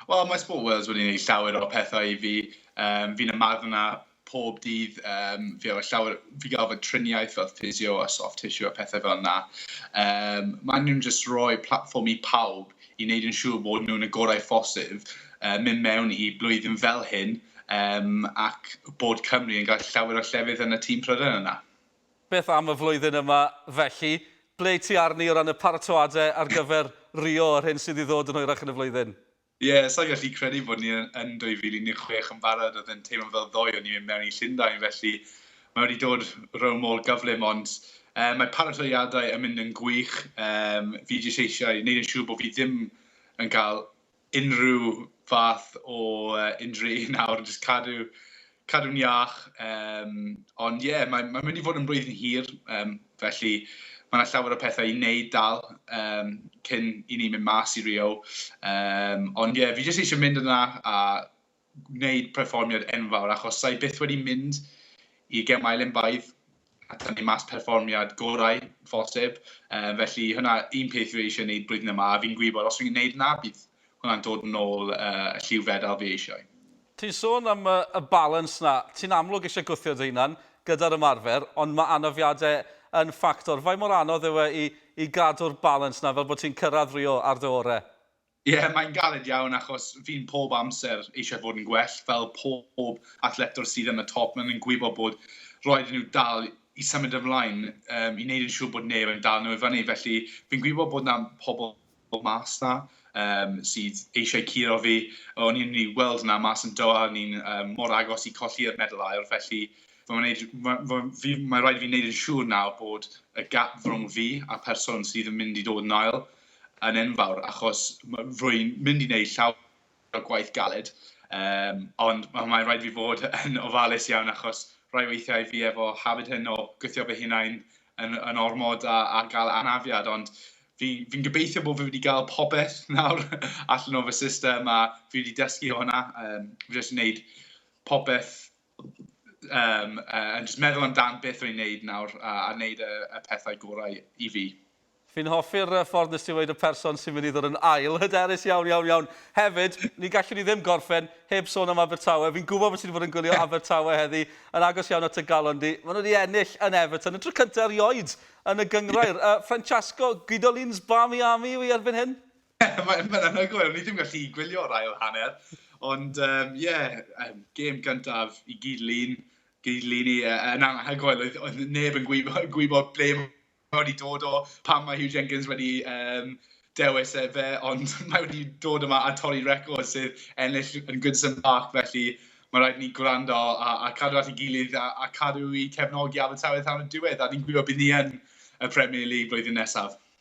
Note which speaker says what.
Speaker 1: Wel, mae Sport Wales wedi gwneud llawer o pethau i fi. Um, fi'n ymarfer na pob dydd, um, fi, llawer, fi gael fy triniaeth fel physio a soft tissue a pethau fel yna. Um, mae nhw'n just rhoi platform i pawb i wneud yn siŵr bod nhw'n y gorau ffosif, uh, mynd mewn i blwyddyn fel hyn, um, ac bod Cymru yn gael llawer o llefydd yn y tîm Prydain yna. Beth am y flwyddyn yma felly? Ble ti arni o ran y paratoadau ar gyfer Rio yr hyn sydd i ddod yn hwyrach yn y flwyddyn? Ie, sa i'n gallu credu bod ni yn 2016 yn barod, oedd e'n teimlo fel ddoe o'n i mynd mewn i Llundain, felly mae wedi dod rownd mor gyflym, ond mae paratoadau yn mynd yn gwych, fi jyst eisiau 'neud yn siŵr bod fi ddim yn cael unrhyw fath o injury nawr, jyst cadw, cadw'n iach. Um, ond ie, yeah, mae'n mae mynd i fod yn blwyddyn hir, um, felly mae yna llawer o pethau i wneud dal um, cyn i ni mynd mas i Rio. Um, ond ie, yeah, fi jyst eisiau mynd yna a gwneud perfformiad enfawr achos sa i byth wedi mynd i gemau Olympaidd a tynnu mas perfformiad gorau phosib. Yy felly hwnna un peth fi eisiau wneud blwyddyn yma a fi'n gwybod bod os fi'n wneud hwnna bydd hwnna'n dod yn ôl yy y lliw fedal fi eisiau. Ti'n sôn am y y balans 'na. Ti'n amlwg eisiau gwthio dy hunan gyda'r ymarfer ond ma' anafiade yn ffactor. Faint mor anodd yw e i i gadw'r balans 'na fel bod ti'n cyrraedd Rio ar dy ore'? Ie, yeah, mae'n galed iawn achos fi'n pob amser eisiau fod yn gwell fel pob athletwr sydd yn y top. Mae'n gwybod bod roed nhw dal i symud ymlaen um, i wneud yn siŵr bod neb yn dal nhw i fyny. Felly fi'n gwybod bod yna pobl mas na um, sydd eisiau curo fi. O'n i'n ei weld yna mas yn Doha, o'n i'n um, mor agos i colli'r medal air. Felly mae rhaid i fi wneud yn siŵr nawr bod y gap rhwng fi a person sydd yn mynd i dod yn ail yn enfawr achos rwy'n mynd i wneud llawer o gwaith galed, um, ond mae'n rhaid fi fod yn ofalus iawn achos rhai weithiau fi efo hafyd hyn o gwythio fy hunain yn, yn ormod a, a gael anafiad, ond fi'n fi gobeithio bod fi wedi cael popeth nawr allan o fy system a fi wedi dysgu o hwnna. Um, fi wedi gwneud popeth Yym, yy, yn jyst meddwl amdan beth o'n i'n neud nawr a a neud y y pethau gorau i fi. Fi'n hoffi'r yy ffordd nes ti weud y person sy'n mynd i ddod yn ail. Hyderus iawn, iawn, iawn. Hefyd, ni gallwn ni ddim gorffen heb sôn am Abertawe. Fi'n gwybod bod ti wedi bod yn gwylio Abertawe heddi, yn agos iawn at y galon di. Maen nhw wedi ennill yn Everton, y tro cyntaf erioed yn y gynghrair. Yy, Francesco, Guidolin's Barmy Army yw hi erbyn hyn? Mae'n ma anhygoel, o'n i ddim gallu gwylio'r ail hanner. Ond, ie, um, yeah, um, gêm gyntaf i gyd lun, gyd lun i yn uh, anhygoel. Oedd, oedd neb yn gwybod, gwybod ble mae wedi dod o, pam mae Hugh Jenkins wedi um, dewis e fe, ond mae wedi dod yma a torri record sydd ennill yn Goodson Park, felly mae rhaid ni gwrando a, a cadw at ei gilydd a, a cadw i cefnogi Abertawe tan y diwedd, a ni'n gwybod bydd ni yn y Premier League blwyddyn nesaf.